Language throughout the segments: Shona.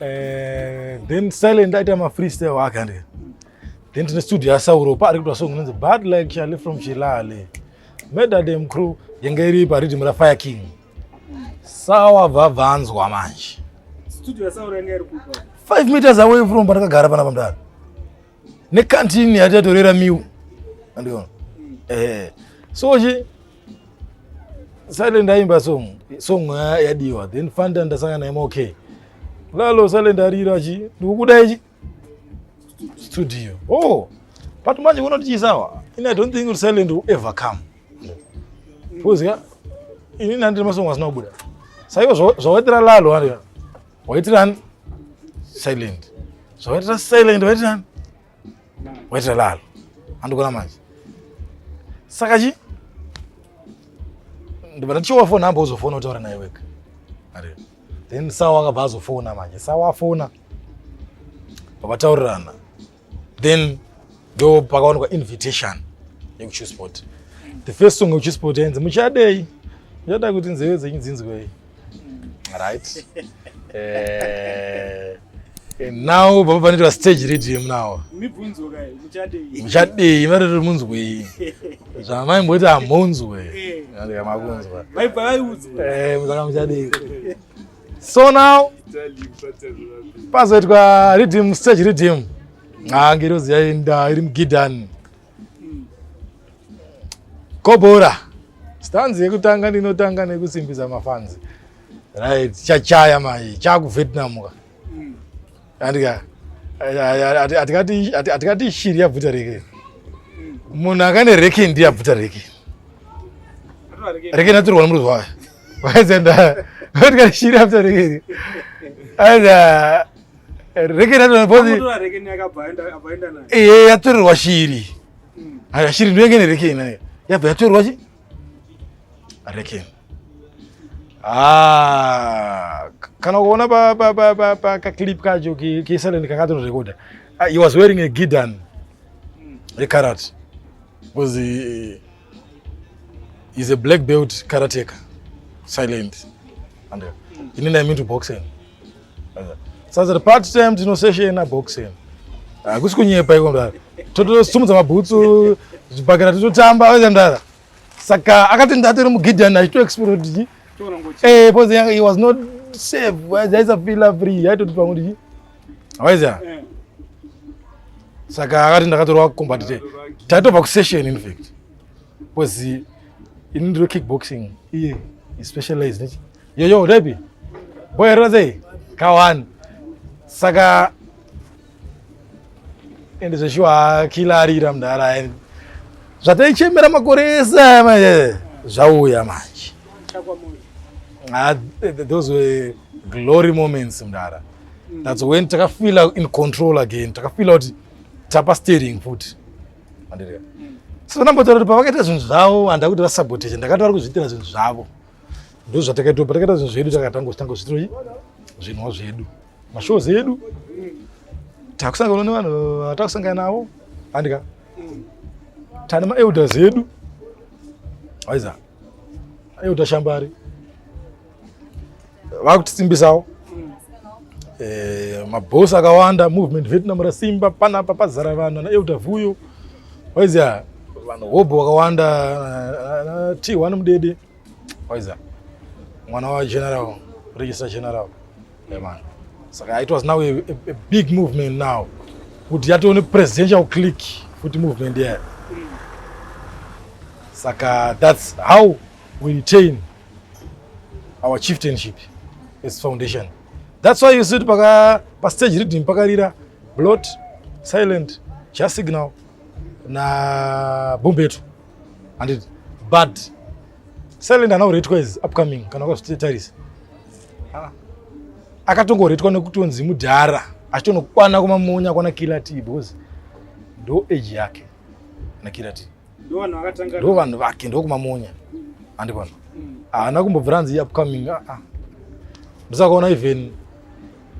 Eh, then silent aita ma freestyle wake ande then tine studio yasauro paari kuitwa song inonzi bad like chale from chilale medadem crew yanga iri pariddim rafire king sawa bvabvanzwa manje studio yasauro yanga iri kupa 5 meters away from pandakagara pana pamdara nekantini yatiyatorera miu andiona mm. eh so chi Silent aimba song song yadiwa then Fanta ndasanga naye MOK. Lalo Silent arira achi ndikukuda ichi studio. Oh. But manje unoti chisawa. In I don't think Silent will ever come. Because yeah, ini nandiri masong asina kubuda. Saiwa zvawaitira Lalo ari. Waitirani? Silent. Zvawaitira Silent waitirani? Weta lalo. Andikona manje. Saka chi? Ndibata chiwa phone hamba uzofona utaura naye wega. Ari. Then sawa akabva azofona manje. Sawa afona. Vakataurirana. Then ndo pakawanikwa invitation yekuChewsport. The first song yekuChewsport yenzi muchadei. Muchada kuti nzeve dzenyu dzinzwei. right eh, eh, now baba panoitwa stage redeem now muchadei variri munzwei zvamaimboiti hamunzwe eh. makunzwa saka muchadei so now pazoitwa redeem stage redeem ah, ngirozi yaenda iri mugidhani Kobora. Stanzi yekutanga ndinotanga nekusimbisa mafanzi. Right, chachaya mai, chaku Vietnam ka. Mm. Andika atikati atikati shiri yabvuta reke. Mm. Munhu akane reke ndiye abvuta reke. Reke naturwa nomruzi wayo. Waizenda. Atikati shiri yabvuta reke. Aida eh, yatorerwa shiri hmm. shiri ndoyenge nerekeni yabva yatorerwa chi rekeni ah, kana kuona pakaclip kacho kesalend kakatororekoda ah, he was wearing a gidan hmm. rekarate because he, he's a black belt karateka silent and uh, inini i mean to boxing Sasa part time tino session na boxing. Hakusi ah, kunyepa iko mdara. Totosumudza mabhutsu zvibhakera tototamba oita mdara. Saka akati ndatiri muGideon achito explode. Eh, because he was not safe. Aisa feel free. Aitoti pamwe ndi. Awaiza. Eh. Saka akati ndakatorwa combat day. Taitobva kusession in fact. Because ini ndiro kickboxing. Iye. Yeah. He specialized. Yo yo Debbie. Boy Rose. Kawan. Saka ende zveshuwa kila arira mdara ende zvataichemera makore ese aya manje zvauya manje ah, those were glory moments mdara mm. that's when takafeela in control again takafeela kuti tapa steering futi andiriya mm. so nambotaura kuti pavakaita zvinhu zvavo handa kuti vasabotage ndakati vari kuzviitira zvinhu zvavo ndozvatakaita patakaita zvinhu zvedu takatanga kutanga zvitiroi zvinwa zvedu mashows edu takusangana nevanhu vatakusangana navo andika tane maelders edu aiza aeuta shambari vakutisimbisawo eh, mabhosi akawanda movement vietnam rasimba panapa pazara vanhu anaeuta vuyo waiza vanhu hobho vakawanda eh, t one mudede waiza mwana wageneral register general eman saka it was now a, a, a big movement now kuti yatove nepresidential click futi movement yayo saka that's how we retain our chieftainship as foundation That's why you see kuti paka pa stage reading pakarira blot silent cha signal na bumbeto and bad silent ana uretwa is upcoming kana kwazvitarise ah. akatongoretwa nekutonzi mudhara achitonokwana kumamonya kwana kilati because ndo age yake na kilati ndo vanhu vake ndokumamonya andikona haana kumbobvira hanzi iupcoming aa ah, ah. ndosakaona even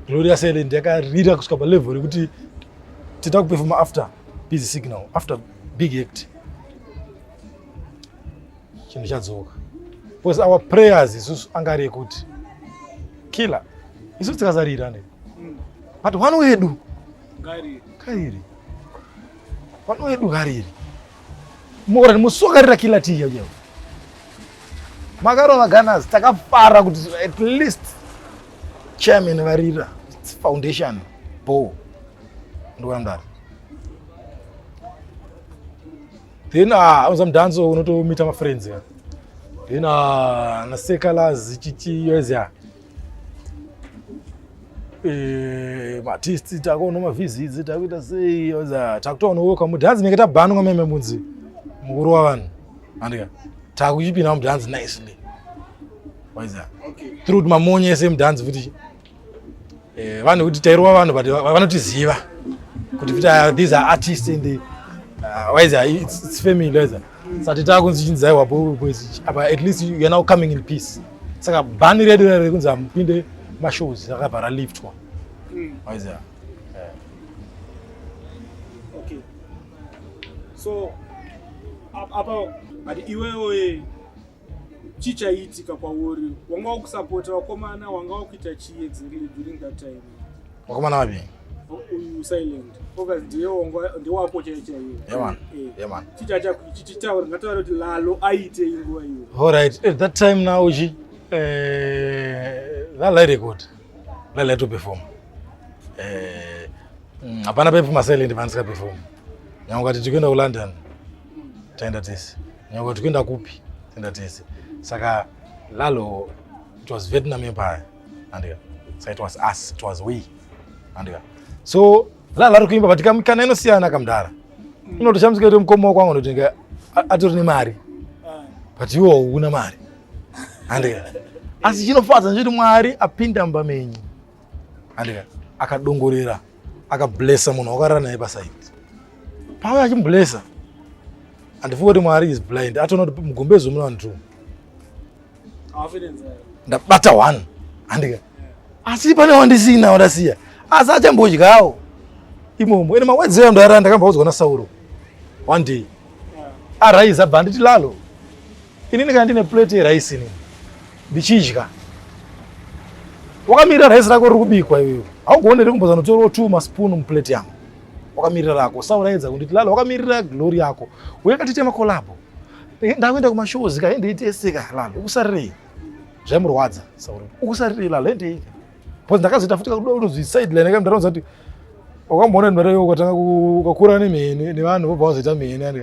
gloria silent yakarira kusvika palevel rekuti tita kupefoma after busy signal after big act chinhu chadzoka because our prayers isusu anga ari ekuti killer isusu tikasarira ne but one wedu kairi Pano edu hariri. Mora musokarira kila tiya uyo. Makarova Gunners takafara kuti at least chairman varira foundation bo ndowandari then ah, auza mudhanzo unotomita mafriends then ah, nasekalazi chichiyoezya Eh, matisti takuona mavhizidzi takuita sei takutoonowoka mudhanzi nenge tabhanwa meme munzi mukuru wavanhu andika takuchipinda mudhanzi nicely waiza through kuti mamonye ese mudhanzi futi eh, vanhu kuti tairova vanhu but vanotiziva kuti futi ah, these are artists and uh, waiza it's, it's family waiza sati takunzi chinzi aiwa boys apa at least you're now coming in peace saka bhani redu rere kunzi hamupinde mashows rakabva raliftwa mm. waiziva okay so apa but iwewe chichaiitika kwauri wanga wakusapota vakomana wanga wakuita chiye dziri during that time vakomana vapi uyu silent focus ndiye wanga ndewako chaiye chaiye chichacha chichitaura ngataura kuti lalo aite inguva iyo all right at that time now uchi eh that lady good that lady to perform eh mm, hapana pepi masilent vandisinga perform nyangwe kuti tikuenda ku london taenda tese Nyangwe tikuenda kupi? Tenda tese. Saka Lalo it was Vietnam empire. Andika. So it was us, it was we. Andika. So Lalo ari kuimba but kamikana inosiyana kamdara. Mm. Ino toshamsika kuti mkomo kwangu ndotenga atori nemari. Ah. But you una mari. Andika. Asi chinofadza nje kuti Mwari apinda mba menyu. andika akadongorera akablessa munhu wakarara naye pasaidi pauya achimblessa handifunga kuti mwari is blind atoona kuti mugombezo muna vanhu two ndabata one handika asi pane wandisina wandasiya asi achambodyawo imomo ene mawedzi eyo ndarara ndakambaudzwa nasauro one day arise abva anditi lalo Inini kana ndine plate yerice inini ndichidya wakamirira rice rako riri kubikwa iwewe haugone here kumbozanotorawo two maspoon muplate yangu wakamirira rako usauraidza kunditi lala wakamirira glory yako uye katitema kolabo eh, ndakuenda kumashows ka hendeiteseka lala ukusarirei zvaimurwadza sauri ukusarirei lala hendeika bcause ndakazoita futi kakuda unozwi sideline ka ndaraudza kuti wakamboona ndimare ukatanga ukakura nemheni nevanhu vobva wazoita mheni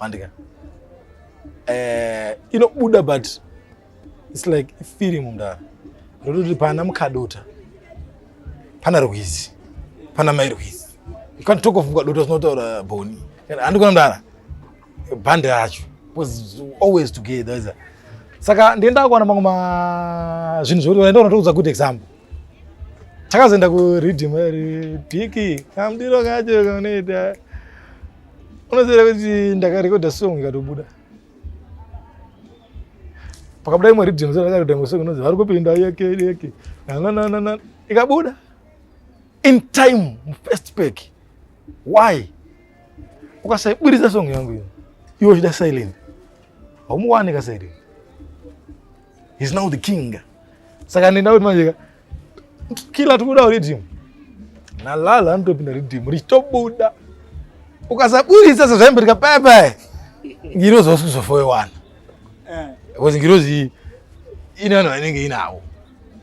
Mandika. Eh, inobuda but it's like feeling mundara. Ndototi pana mukadota. Pana rwizi. Pana mai rwizi. You can't talk of mukadota zvinotaura boni. Andikona mndara. Bhande racho was always together. Is Saka ndienda kuona mamwe ma zvinhu zvekuti vaenda kunotoudza good example. Takazoenda ku reading, Diki, kamdiro kacho kanoita unoziva kuti ndakarekodha song ikatobuda pakabuda imwe riddim zandakarekodha imwe song inonzi vari kupinda yeke yeke nananana ikabuda in time mufirst pack why ukasaiburitsa song yangu iyo iwe uchida silent haumuwani ka silent He's now the king. Saka nenda kuti manje kila tikuda rhythm. Na lala anotopinda rhythm richitobuda. Ukasaburitsa sezvaimbereka pepe. Ngirozi wasuzofoyewana. Eh. Because ngirozi ine vanhu vanenge inawo.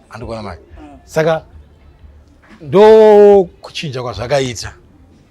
Andikuona manje. Eh. Saka ndo kuchinja kwazvakaita.